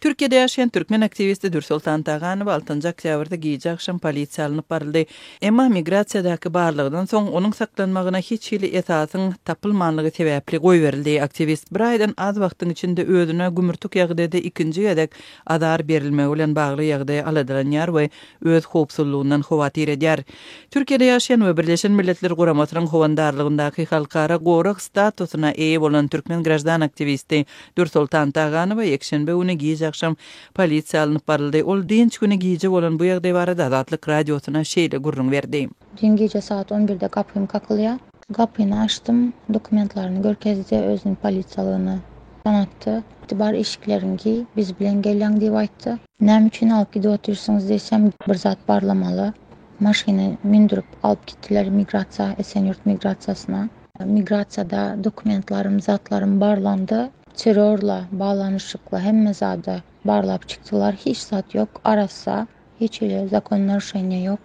Türkiýede ýaşaýan türkmen aktiwisti Dürsoltan Taganow altynjy oktýabrda gije-agşam polisiýa alnyp baryldy, emma migrasiýadaky barlagdan soň onuň saklanmagyna hiç hili esasyň tapylmanlygy sebäpli goýberildi. Aktiwist bir aýdan az wagtyň içinde özüne gümürtik ýagdaýda ikinji gezek azar berilmegi bilen bagly ýagdaýa aladalanýar we öz howpsuzlygyndan howatyr edýär. Türkiýede ýaşaýan we Birleşen Milletler Guramasynyň howandarlygyndaky halkara gorag statusyna eýe bolan türkmen graždan aktiwisti Dürsoltan Taganowa ýekşenbe güni gije-agşam polisiýa alnyp baryldy. Ol dynç güni gije bolan bu ýagdaý barada Azatlyk Radiosyna şeýle gürrüň berdi. Düýn gije sagat on birde gapym kakylýar. Gapyny açdym. Dokumentlaryny görkezdi. Özüni polisiýalygyny tanatdy. Bar eşikleriňi giý, biz bilen gelýäň diýip aýtdy. Näme üçin alyp gidip otyrsyňyz diýsem, bir zat barlamaly. Maşyna mündürip alyp gitdiler migrasiýa, Esenýurt migrasiýasyna. Migrasiýada dokumentlarim zatlarim barlandy terrorla baglanyşykly hemme zady barlap çykdylar hiç zat ýok arassa hiç hili zakon narusheniýa ýok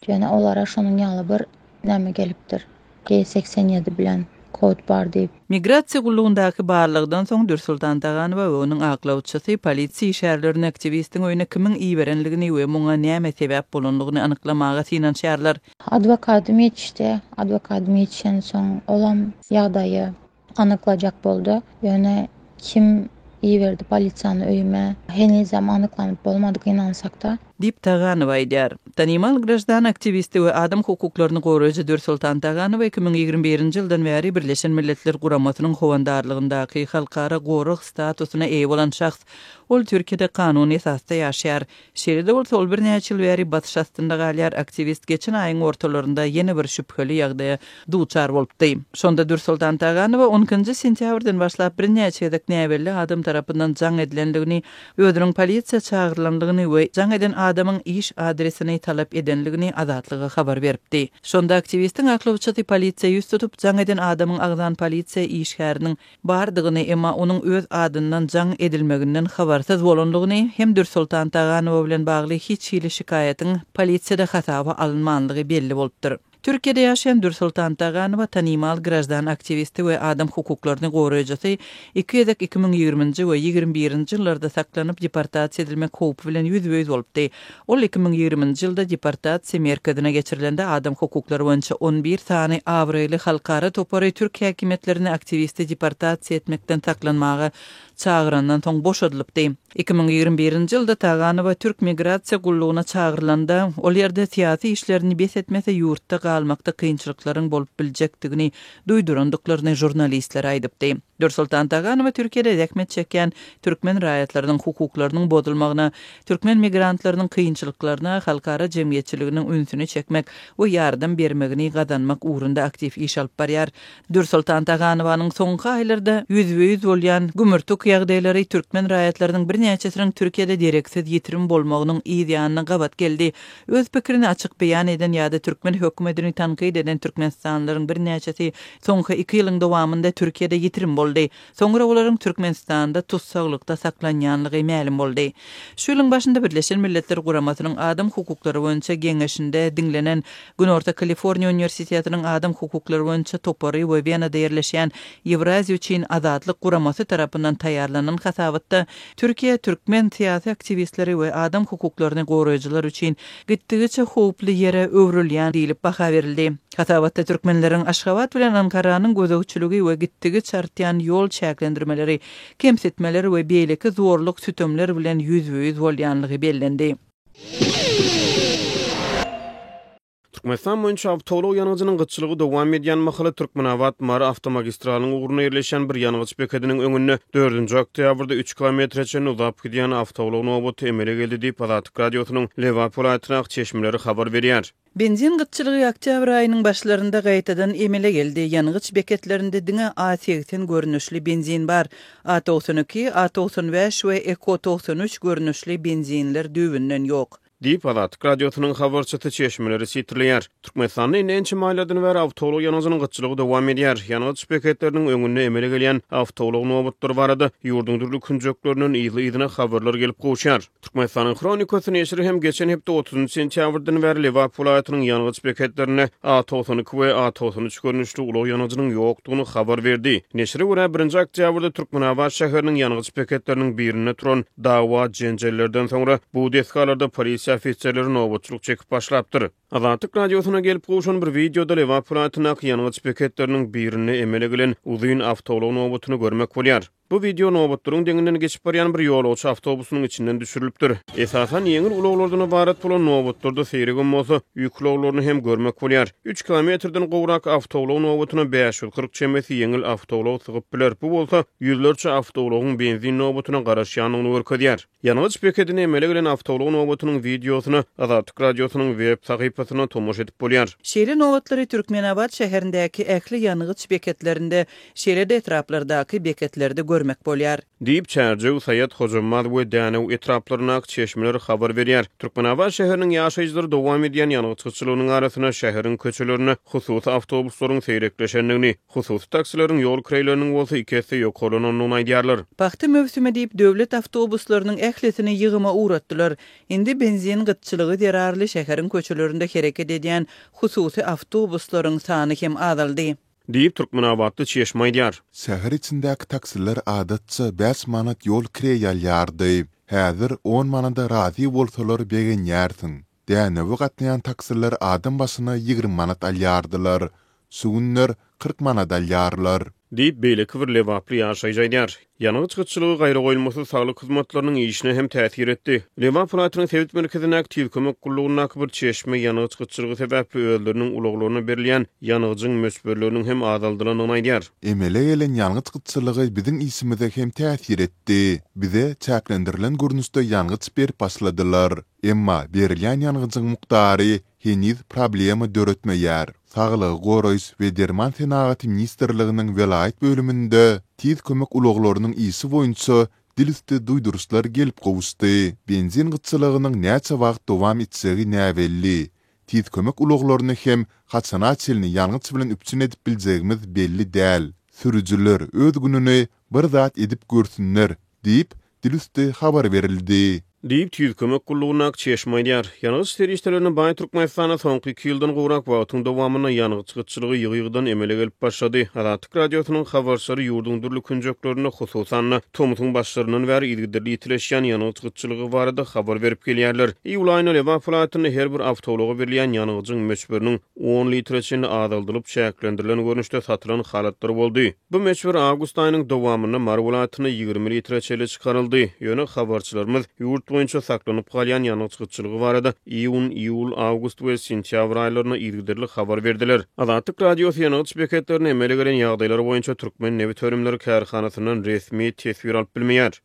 ýöne olara şonuň ýaly bir näme gelipdir G segsen ýedi bilen kod bar diýip. Migrasiýa gullugyndaky barlagdan soň Dürsultan Daganowa we onuň aklawçysy polisiýa işärlerini aktiwistiň öýüne kimiň iberenligini we muňa näme sebäp bolanlygyny anyklamaga synanyşýarlar. Adwokadym ýetişdi. Adwokadym ýetişensoň, olam ýagdaýy anyklajak boldy. Ýöne kim iberdi polisiýany öýüme, henizem anyklanyp bolmadyk, ynansak-da. Diýip, Taganowa aýdýar. Tanymal graždan aktiwisti we adam hukuklaryny goraýjy Dürsoltan Taganowa iki müň ýigrimi birinji ýyldan bäri Birleşen Milletler Guramasynyň howandarlygyndaky halkara gorag statusyna eýe bolan şahs. Ol Türkiýede kanuny esasda ýaşaýar. Şeýle-de bolsa, ol birnäçe ýyl bäri basyş astynda galýar, aktiwist geçen aýyň ortalarynda ýene bir şübheli ýagdaýa duçar bolupdy. Şonda Dürsoltan Taganowa on ikinji sentýabrdan başlap birnäçe gezek näbelli adam tarapyndan jaň edilendigini, özüniň polisiýa çagyrylandygyny we jaň eden adamyň iş adresini talap edenligini Azatlyga habar beripdi. Şonda aktiwistiň aklawçysy polisiýa ýüz tutup, jaň eden adamyň agzan polisiýa işgäriniň, bardygyny, emma onuň öz adyndan jaň edilmeginden habarsyz bolandygyny hem Dürsoltan Taganowa bilen bagly hiç hili şikaýatyň polisiýada hasaba alynmanlygy belli bolupdyr. Türkiýede ýaşaýan Dürsoltan Taganowa tanymal graždan aktiwisti we adam hukuklaryny goraýjysy iki gezek iki müň ýigriminji we ýigrimi birinji ýyllarda saklanyp deportasiýa edilmek howpy bilen ýüzbe-ýüz bolupdy. Ol iki müň ýigriminji ýylda deportasiýa merkezine geçirilende adam hukuklary boýunça on bir sany abraýly halkara topary türk häkimiýetlerini aktiwisti deportasiýa etmekden saklanmaga çagyrandan soň boşadylypdy. Iki müň ýigrimi birinji ýylda Taganowa türk migrasiýa gullugyna çagyrylanda, ol ýerde syýasy işlerini bes etmese ýurtda galmakda kynçylyklaryň bolup biljekdigini duýdurandyklaryny žurnalistlere aýdypdy. Dürsoltan Taganowa Türkiýede zähmet çekýän türkmen raýatlarynyň hukuklarynyň bozulmagyna Türkmen migrantlarynyň kynçylyklaryna halkara jemgyýetçiliginiň ünsüni çekmek we ýardam bermegini gazanmak ugrunda aktiw iş alyp barýar. Dürsoltan Taganowanyň soňky aýlarda ýüzbe-ýüz bolýan gümürtik ýagdaýlary türkmen raýatlarynyň birnäçesiniň Türkiýede dereksiz ýitirim bolmagynyň yz ýanyna gabat geldi. Öz pikirini açyk beýan eden ýa-da türkmen hökümetini tankyt eden türkmenistanlylaryň birnäçesi soňky iki ýylyň dowamynda Türkiýede ýitirim boldy. Soňra olaryň Türkmenistanda tussaglykda saklanýanlygy mälim boldy. Şu ýylyň başynda Birleşen Milletler Guramasynyň Adam hukuklary boýunça geňeşinde diňlenen Günorta Kaliforniýa uniwersitetiniň Adam hukuklary boýunça topary we Wenada ýerleşýän Ýewraziýa üçin azatlyk guramasy tarapyndan taýýarlanan hasabatda Türkiýe türkmen syýasy aktiwistleri we adam hukuklaryny goraýjylar üçin gitdigiçe howply ýere öwrülýär diýlip baha berildi. Hasabatda türkmenleriň Aşgabat bilen Ankaranyň gözegçiligi we gitdigiçe artýan ýol çäklendirmeleri, kemsitmeler we beýleki zorluk-sütemler bilen ýüzbe-ýüz bolýanlygy bellendi. Türkmenistan boýunça awtoulag ýangyjynyň gytçylygy dowam edýän mahaly Türkmenabat, Mary awtomagistralynyň ugrunda ýerleşýän bir ýangyç bekediniň öňünde dördünji oktýabrda üç kilometre çenli uzap gidýän awtoulag nobaty emele geldi diýip, Azatlyk Radiosynyň Lebap welaýatynyň çeşmeleri habar berýär. Benzin gytçylygy oktýabr aýynyň başlarynda gaýtadan emele geldi. Ýangyç beketlerinde diňe A segsen görnüşli benzin bar. A togsan iki, A togsan bäş we Eko togsan üç görnüşli benzinler düýbünden ýok. Diýip, Azatlyk Radiosynyň habarçysy çeşmeleri sitirleýär. Türkmenistanda indi ençeme aýlardan bäri awtoulag ýangyjynyň gytçylygy dowam edýär. Ýangyç beketleriniň öňünde emele gelýän awtoulag nobatlary barada ýurduň dürli künjeklerinden yzly-yzyna habarlar gelip gowuşýar. Türkmenistanyň Hronikasy neşiri hem geçen hepde otuzynjy sentýabrdan bäri Lebap welaýatynyň ýangyç beketlerinde A togsan iki we A togsan üç görnüşli ulag ýangyjynyň ýokdugyny habar berdi. Neşire görä, birinji oktýabrda Türkmenabat şäheriniň ýangyç beketleriniň birinde turan Dawa-jenjellerden soňra bu desgalarda polisiýa ofiserleri nobatçylyk çekip başlapdyr. Azatlyk Radiosyna gelip gowşan bir wideoda Lebap welaýatyndaky ýangyç beketleriniň birinde emele gelen uzyn awtoulag nobatyny görmek bolýar. Bu wideo nobatlaryň deňinden geçip barýan bir ýolagçy awtobusynyň içinden düşürilipdir. Esasan ýeňil ulaglardan ybarat bolan nobatlarda seýregem bolsa ýük ulaglaryny hem görmek bolýar. Üç kilometrden gowrak awtoulag nobatyna bäş ýüz kyrk çemesi ýeňil awtoulag sygyp biler, bu bolsa ýüzlerçe awtoulagyň benzin nobatyna garaşýandygyny görkezýär. Ýangyç bekedine emele gelen awtoulag nobatynyň wideosyna Azatlyk Radiosynyň web sahypasynda tomaşa edip bolýar. Şeýle nobatlary Türkmenabat şäherindäki ähli ýangyç beketlerinde, şeýle-de etraplardaky beketlerde görmek bolýar. Diýip, Çärjew, Saýat, Hojambaz we Dänew etraplaryndaky çeşmeler habar berýär. Türkmenabat şäheriniň ýaşaýjylary dowam edýän ýangyç gytçylygynyň arasynda şäheriň köçelerinde hususy awtobuslaryň seýrekleşendigini, Hususy taksileriň ýol kireýleriniň bolsa iki esse ýokarlanandygyny aýdýarlar. Pagta möwsümi diýip, döwlet awtobuslarynyň ählisini ýygyma ugratdylar. Indi benzin gytçylygy zerarly şäheriň köçelerinde hereket edýän hususy awtobuslaryň sany hem azaldy. Diýip, türkmenabatly çeşme aýdýar. Şäher içindäki taksiler adatça bäş manat ýol kireý alýardy. Häzir on manada razy bolsalar begenýärsiň. Dänewe gatnaýan taksiler adam başyna ýigrimi manat alýardylar. Şu günler kyrk manat alýarlar. Diýip, beýleki bir lebaply ýaşaýjy aýdýar. Ýangyç gytçylygy gaýragoýulmasyz saglyk hyzmatlarynyň işine hem täsir etdi. Lebap welaýatynyň sebit merkezindäki Tiz kömek gullugyndaky bir çeşme ýangyç gytçylygy sebäpli özleriniň ulaglaryna berilýän ýangyjyň möçberleriniň hem azaldylandygyny aýdýar. Emele gelen ýangyç gytçylygy biziň işimize hem täsir etdi. Bize çäklendirilen görnüşde ýangyç berip başladylar. Emma berilýän ýangyjyň mukdary heniz problema döretmeýär. Saglygy goraýyş we derman senagaty ministrliginiň welaýat bölüminde Tiz kömek ulaglarynyň işi boýunça dil üsti duýduryşlar gelip gowuşdy. Benzin gytçylygynyň näçe wagt dowam etjegi näbelli. Tiz kömek ulaglaryny hem haçana çenli ýangyç bilen üpjün edip biljegimiz belli däl. Sürüjiler öz gününi bir zat edip görsünler diýip, dil üsti habar berildi. Diýip, Tüýs kömek gullugyndaky çeşme aýdýar. Ýangyç serişdelerine baý Türkmenistanda soňky iki ýyldan gowrak wagtyň dowamynda ýangyç gytçylygy ýygy-ýygydan emele gelip başlady. Azatlyk Radiosynyň habarçylary ýurduň dürli künjeklerinde, hususan-da, tomusyň başlaryndan bäri yzygiderli ýitileşýän ýangyç gytçylygy barada habar berip gelýärler. Iýul aýynda Lebap welaýatynda her bir awtoulaga berilýän ýangyjyň möçberiniň on litre çenli azaldylyp, çäklendirilen görnüşde satylan halatlary boldy. Bu möçber awgust aýynyň dowamynda Mary welaýatynda ýigrimi litre çenli çykaryldy. Ýöne habarçylarymyz ýurt boýunça saklanyp galýan ýangyç gytçylygy barada iýun, iýul, awgust we sentýabr aýlarynda yzygiderli habar berdiler. Azatlyk Radiosy ýangyç beketlerinde emele gelen ýagdaýlar boýunça Türkmennebitönümleri kärhanasyndan resmi teswir alyp bilmeýär.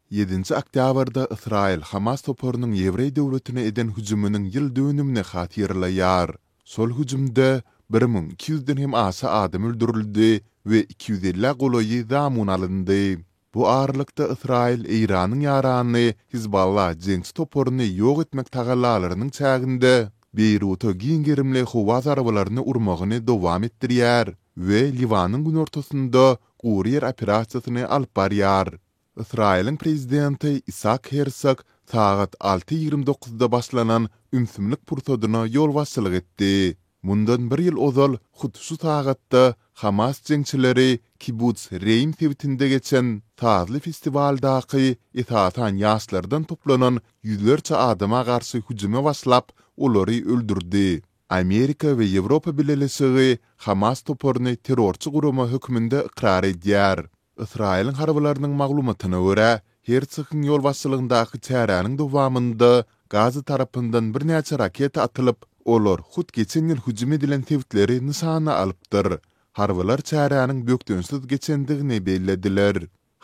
Ýedinji oktýabrda Ysraýyl Hamas toparynyň ýewreý döwletine eden hüjüminiň ýyl dönümini hatyrlaýar. Şol hüjümde bir müň iki ýüzden hem aşa adam öldürildi we iki ýüz elli golaýy zamun alyndy. Bu aralykda Ysraýyl Eýranyň ýarany Hizballah jeňçi toparyny ýok etmek tagallalarynyň çäginde Beýruta giň gerimli howa zarbalaryny urmagyny dowam etdirýär we Liwanyň günortasynda gury ýer operasiýasyny alyp barýar. Ysraýylyň prezidenti Isak Hersog sagat alty ýigrimi dokuzda başlanan ümsümlik pursadyna ýolbaşçylyk etdi. Mundan bir ýyl ozal hut şu sagatda Hamas jeňçileri Kibuts Reým sebitinde geçen sazly festiwaldaky esasan ýaşlardan toplanan ýüzlerçe adama garşy hüjüme başlap, olary öldürdi. Amerika we Ýewropa Bileleşigi Hamas toparyny terrorçy gurama hökmünde ykrar edýär. Ysraýylyň harbylarynyň maglumatyna görä, Hersogyň ýolbaşçylygyndaky çäräniň dowamynda Gaza tarapyndan birnäçe raketa atylyp, olar hut geçen ýyl hüjüm edilen sebitleri nyşana alypdyr. Harbylar çäräniň bökdençsiz geçendigini bellediler.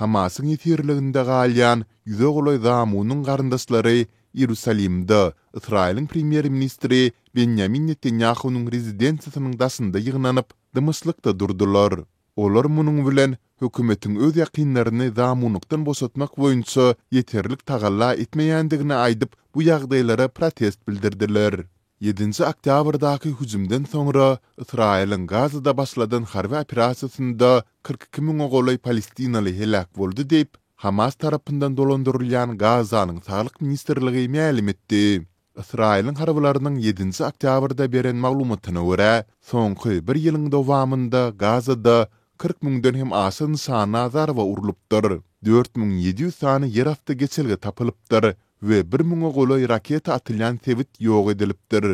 Hamasyň ýesirliginde galýan ýüze golaý Zamunyň garyndaşlary Iýerusalimde Ysraýylyň premýer-ministri Benýamin Netanýahunyň rezidensiýasynyň daşynda ýygnanyp, dymyşlykda durdular. Olar munuň bilen hökümetiň öz ýakynlaryny zamunlykdan boşatmak boýunça ýeterlik tagalla etmeýändigini aýdyp, bu ýagdaýlara protest bildirdiler. Ýedinji oktýabrdaky hüjümden soňra Ysraýylyň Gazada başladan harby operasiýasynda kyrk iki müňe golaý palestinaly heläk boldy diýip, Hamas tarapyndan dolandyrylýan Gazanyň saglyk ministrligi mälim etdi. Ysraýylyň harbylarynyň ýedinji oktýabrda beren maglumatyna görä, soňky bir ýylyň dowamynda Gazada kyrk müňden hem aşa nyşana zarba urlupdyr, dört müň ýedi ýüz sany ýerasty geçelge tapylypdyr we bir müňe golaý raketa atylýan sebit ýok edilipdir.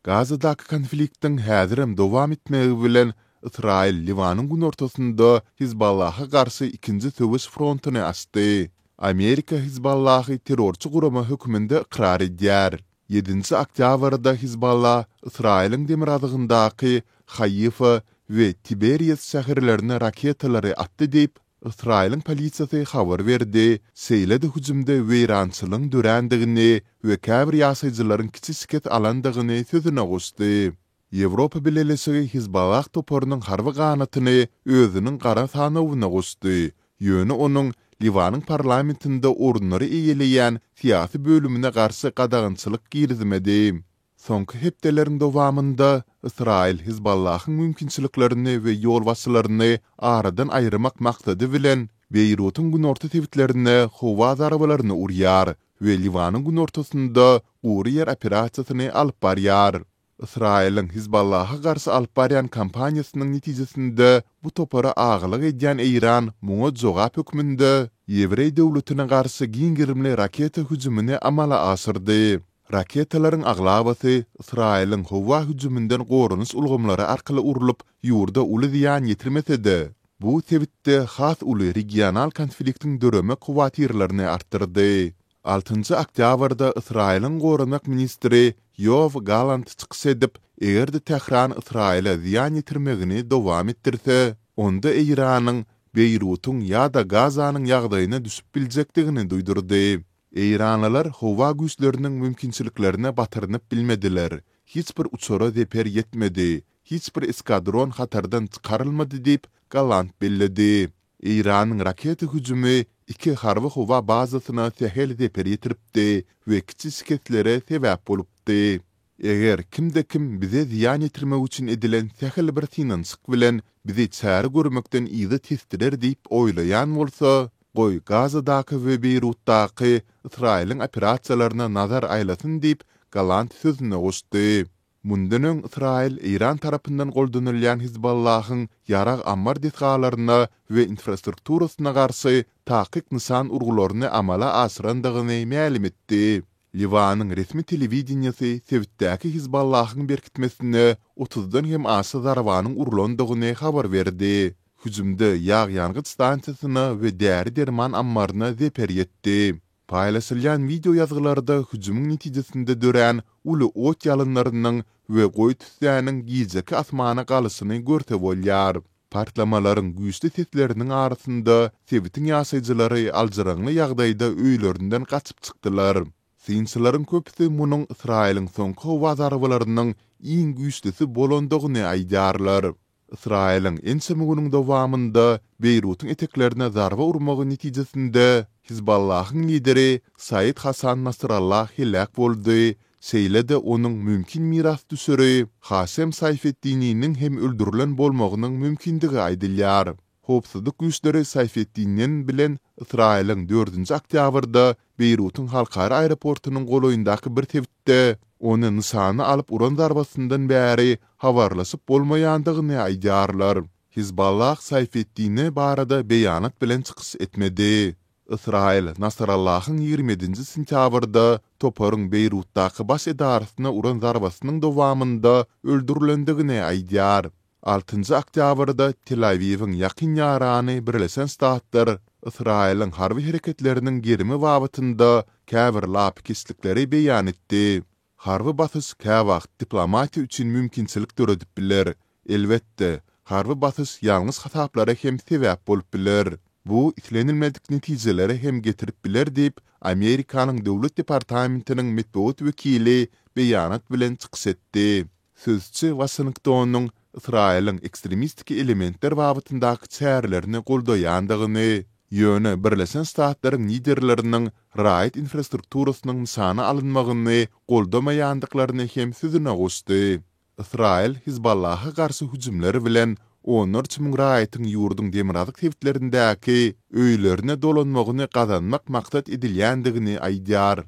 Gazadaky konfliktiň häzirem dowam etmegi bilen Ysraýyl Liwanyň günortasynda Hizballaha garşy ikinji söweş frontuny açdy. Amerika Hizballahy terrorçy gurama hökmünde ykrar edýär. Ýedinji oktýabrda Hizballah Ysraýylyň demirgazygyndaky Haifa we Tiberias şäherlerine raketalary atdy diýip, Ysraýylyň polisiýasy habar berdi, şeýle-de hüjümde weýrançylygyň dörändigini we käbir ýaşaýjylaryň kiçi şikes alandygyny sözüne goşdy. Ýewropa Bileleşigi Hizballah toparynyň harby ganatyny özüniň gara sanawyna goşdy, ýöne onuň Liwanyň parlamentinde orunlary eýeleýän syýasy bölümine garşy gadagançylyk girizmedi. Soňky hepdeleriň dowamynda Ysraýyl Hizballahyň mümkinçiliklerini we ýolbaşçylaryny aradan aýyrmak maksady bilen Beýrutyň günorta sebitlerine howa zarbalaryny urýar we Liwanyň günortasynda gury ýer operasiýasyny alyp barýar. Ysraýylyň Hizballaha garşy alyp barýan kampaniýasynyň netijesinde bu topara agalyk edýän Eýran muňa jogap hökmünde Ýewreý döwletine garşy giň gerimli raketa hüjümini amala aşyrdy. Raketalaryň aglabasy Ysraýylyň howa hüjüminden goranyş ulgamlary arkaly urlup, ýurda uly zyýan ýetirmese-de, bu sebitde has uly regional konfliktiň döreme kuwatyrlaryny artdyrdy. Altynjy oktýabrda Ysraýylyň goranmak ministri Ýoaw Galant çykyş edip, eger-de Tähran Ysraýyla zyýan ýetirmegini dowam etdirse, onda Eýranyň Beýrutyň ýa-da Gazanyň ýagdaýyna düşüp biljekdigini duýdurdy. Eýranlylar howa güýçleriniň mümkinçiliklerine batyrynyp bilmediler, hiç bir uçara zeper ýetmedi, hiç bir eskadron hatardan çykarylmady diýip, Galant belledi. Eýranyň raketa hüjümi iki harby-howa bazasyna sähel zeper ýetiripdi we kiçi şikeslere sebäp bolupdy. Eger kimde-kim bize zyýan ýetirmek üçin edilen sähel bir synanyşyk bilen bizi çäre görmekden yza tesdirer diýip oýlaýan bolsa, goý, Gazadaky we Beýrutdaky Ysraýylyň operasiýalaryna nazar aýlasyn diýip, Galant sözüne goşdy. Mundan öň Ysraýyl Eýran tarapyndan goldanylýan Hizbollahyň ýarag ammar desgalaryna we infrastrukturasyna garşy takyk nyşan urgularyny amala aşyrandygyny mälim etdi. Liwanyň resmi telewideniýesi sebitdäki Hizbollahyň berkitmesine otuzdan hem aşa zarbanyň urlandygyny habar berdi. Hüjümde ýag-ýangyç stansiýasyna we däri-derman ammaryna zeper ýetdi. Paýlaşylýan wideo ýazgylarda hüjümiň netijesinde dörän uly ot ýalynlarynyň we goýy tüssäniň gijeki asmana galyşyny görse bolýar. Partlamalaryň güýçli sesleriniň arasynda sebitiň ýaşaýjylary aljyraňly ýagdaýda öýlerinden gaçyp çykdylar. Synçylaryň köpüsi munuň Ysraýylyň soňky howa zarbalarynyň iň güýçlüsi bolandygyny aýdýarlar. Ysraýylyň ençeme günüň dowamynda Beýrutyň eteklerine zarba urmagy netijesinde Hizbollahyň lideri Said Hasan Nasrallah heläk boldy, şeýle-de onuň mümkin mirasdüşeri Hasem Saýfetdininiň hem öldürilen bolmagynyň mümkindigi aýdylýar. Howpsuzlyk güýçleri Saýfetdinin bilen Ysraýylyň dördünji oktýabrda Beýrutyň halkara aeroportynyň golaýyndaky bir sebitde Hut-da, ony nyşana alyp uran zarbasyndan bäri habarlaşyp bolmaýandygyny aýdýarlar. Hizballah Saýfeddine barada beýanat bilen çykyş etmedi. Ysraýyl Nasrallahyň ýigrimi ýedinji sentýabrda toparyň Beýrutdaky baş edarasyna uran zarbasynyň dowamynda öldürilendigini aýdýar. Altynjy oktýabrda Tel-Awiwiň ýakyn ýarany Birleşen Ştatlar Ysraýylyň harby hereketleriniň gerimi babatynda käbir lapykeçlikleri beýan etdi. Harby basyş käwagt diplomatiýa üçin mümkinçilik döredip biler. Elbetde, harby basyş ýalňyş hasaplara hem sebäp bolup biler. Bu islenilmedik netijelere hem getirip biler diýip, Amerikanyň Döwlet departamentiniň metbugat wekili beýanat bilen çykyş etdi. Sözçi Waşingtonyň Ysraýylyň ekstremistik elementler babatyndaky çärelerini goldaýandygyny, ýöne Birleşen Ştatlaryň liderleriniň raýat infrastrukturasynyň nyşana alynmagyny goldamaýandyklaryny hem sözüne goşdy. Ysraýyl Hizbollaha garşy hüjümler bilen onlarça müň raýatyň ýurduň demirgazyk sebitlerindäki öýlerine dolanmagyny gazanmak maksat edilýändigini aýdýar.